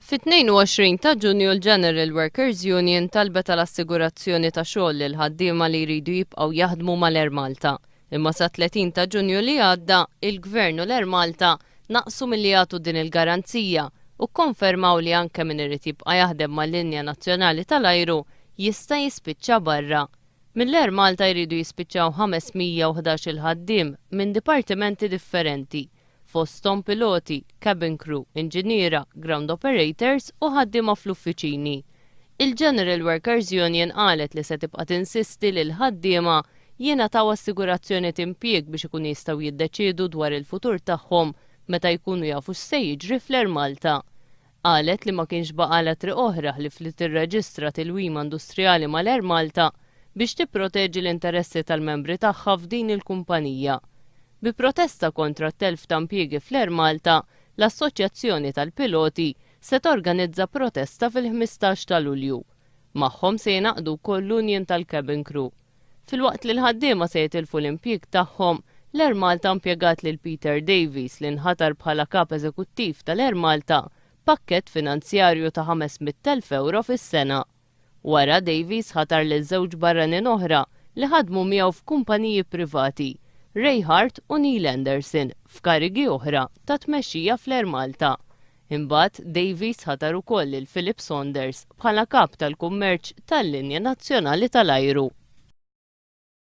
Fit-22 ta' Ġunju l-General Workers Union talbet għal assigurazzjoni ta' xogħol lil ħaddiema li jridu jibqgħu jaħdmu mal-Air Malta. Imma sat-30 ta' Ġunju li għadda, il-Gvern u l-Air Malta naqsu milli jagħtu din il-garanzija u kkonfermaw li anke min irid jibqa' jaħdem mal-linja nazzjonali tal-ajru jista' jispiċċa barra. Mill-Air Malta jridu jispiċċaw 511-il ħaddiem minn dipartimenti differenti, fosthom piloti, cabin crew, inġiniera, ground operators u ħaddiema fl-uffiċini. Il-General Workers Union qalet li se tibqa' tinsisti li l-ħaddiema jingħataw assigurazzjoni t'Impjieg biex ikunu jistgħu jiddeċiedu dwar il-futur tagħhom meta jkunu jafu x'se jiġri fl-Air Malta. Qalet li ma kienx baqgħalha triq oħra ħlief li tirreġistra tilwima industrijali mal-Air Malta biex tipproteġi l-interessi tal-membri tagħha f'din il-kumpanija. Bi protesta kontra t-telf ta' impjiegi fl-Air Malta, l-Assoċjazzjoni tal-Piloti se torganizza protesta fil-ħmistax ta' Lulju. Magħhom se jingħaqdu wkoll l-Union tal-Cabin Crew. Filwaqt li l-ħaddiema se jitilfu l-impjieg tagħhom, l-Air Malta mpjegat lil Peter Davies li nħatar bħala Kap Eżekuttiv tal-Air Malta b'pakkett finanzjarju ta' 500,000 ewro fis-sena. Wara, Davies ħatar lil żewġ barranin oħra li ħadmu miegħu f'kumpaniji privati, Ray Hart u Neil Anderson, f'karigi oħra ta' tmexxija fl-Air Malta. Imbagħad, Davies ħatar ukoll lil Philip Saunders bħala Kap tal-Kummerċ tal-Linja Nazzjonali tal-Ajru.